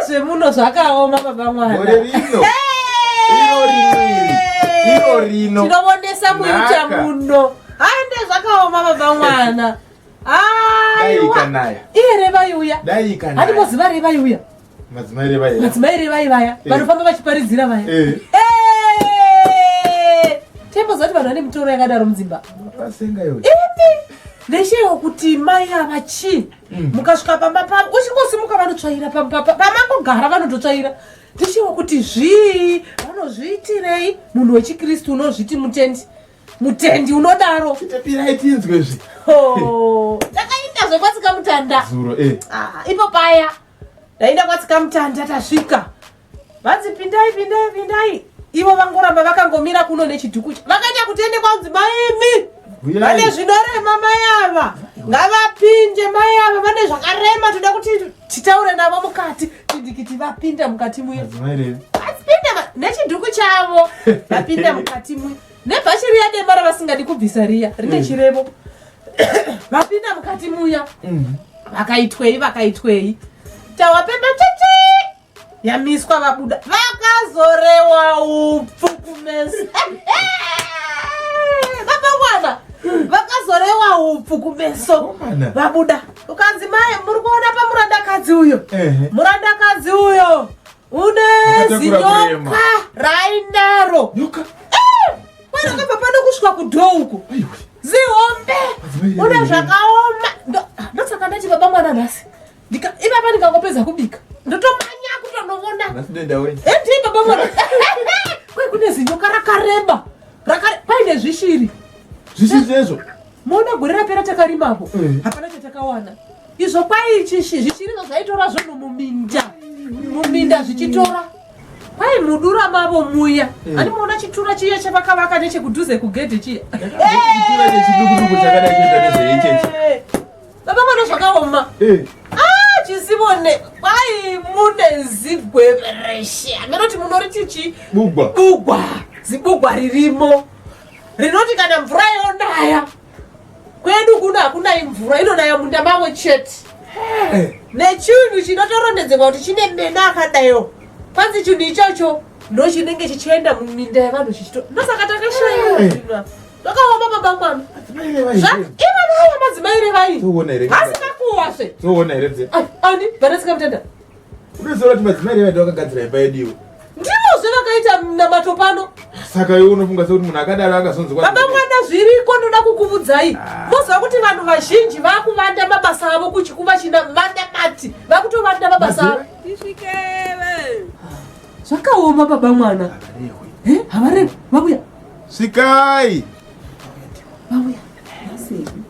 zvemuno zvakaoma baba mwanatinovonesa muita muno aende zvakaoma baba mwana aiwa iye revaiuya handikoziva revaiuya Madzimai revai vaya. Madzimai revai vaya. Eh. Vanofamba vachiparidzira vaya. Eh. Eh. Tembo zati vanhu vane mitoro yakadaro mudzimba. Vasenga yoyo. Imi. Ndeshewo kuti mai ava chi. Mm. Mukasvika pamba pavo uchingosimuka vanotsvaira pamba pamangogara vanototsvaira. Ndeshewo kuti zvii vanozviitirei munhu wechikristu unozviti mutendi. Mutendi unodaro. Chitapirai tinzwe zvi. Oh. Takaita zvekwasika mutanda. Zuro eh. Ah, ipo paya. Ndaenda kwatsika mutanda tasvika. Vanzi pindai pindai pindai. Ivo vangoramba vakangomira kuno nechiduku. Vakaita kutende kwanzi maimi. Vane zvinorema mai ava. Ngavapinde mai ava vane zvakarema toda kuti titaure navo mukati. Tidikiti vapinda mukati muya. Vapinda nechiduku chavo. Vapinda mukati muya. nebhachi riya dema ravasingadi kubvisa riya rine mm. chirevo vapinda mukati muya mm. vakaitwei vakaitwei tawapemba cheche yamiswa vabuda vakazorewa upfu kumesa vapangwana vakazorewa upfu kumeso vabuda ukanzi mai muri kuona pamurandakadzi uyo murandakadzi uyo Une zinyoka rainaro. Nyoka. Eh! Mwana ngabva pano kusvika kudho uko. Zihombe. Une zvakaoma. Ndosaka ndati baba mwana nhasi. Ndika ipapa ndikangopedza kubika. Ndotomanya kutonovona. Nhasi denda wenyu. Eh, ndiye baba mwana. Kwe kune zinyoka rakareba. Rakare paine zvishiri. Zvishiri zvezvo. Mona gore rapera takarimapo mm. hapana chatakawana izvo kwai chishi zvichirizo zvaitora zvono muminda muminda zvichitora kwai mudura mavo muya mm. ani muona chitura chiya chavakavaka nechekudhuze kugedhe chiya baba mwana zvakaoma eh. ah, chisivone kwai mune zigwevereshe ameroti munoriti chi bugwa zibugwa ririmo rinoti kana mvura yonaya kwedu kuno hakunayi mvura inonaya munda mavo chete eh. nechinhu chinotorondedzerwa kuti chine mena akadayo kwanzi chinhu ichocho ndochinenge chichienda muminda yevanhu chichito ndosaka takashaiwa eh. takaoma baba mwana ivanayo madzimai revai vasina kuwasve ani vana sikamutenda Unoziva kuti madzimai revaida vakagadzira imba yedu iwe. Ndimo zve vakaita namato pano. Saka iwe unofunga sekuti munhu akadaro akazonzi kwa. Baba mwana zviriko ndoda kukuvudzai. Ah. Moziva kuti vanhu vazhinji vakuvanda mabasa avo kuchikuva china vanda mati. Vakutovanda mabasa avo. Tishikele. Zvakaoma baba mwana. Eh, havareko. Vabuya. Sikai. Vabuya. Asi.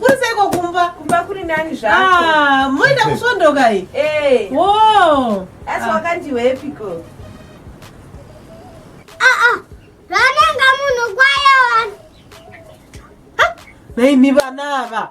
kuriseiko kumba kumba kuri nani zvaa moita kusondoka i asi wakandiwepiko zvananga munhu kwayewa naimi vana ava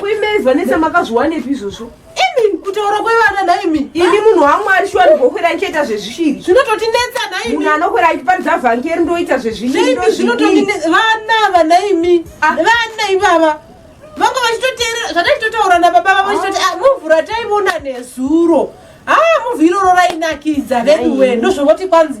kuimei vanetsa makazviwanepi izvozvo imi kutaura kwevana naimi ini munhu wamwari shuwa ndigokwera ndichiita zvezvishiri zvinototinetsa naimi munhu anokwera achiparidza vhangeri ndoita zvezvishiri zvinototinetsa vana ava naimi ah. vana ivava vanga vachitoteerera zvataitotaura nababa vavo vachitoti ah, muvhu rataivona nezuro haa ah, muvhu iroro rainakidza veduwe ndozvovoti kwanzi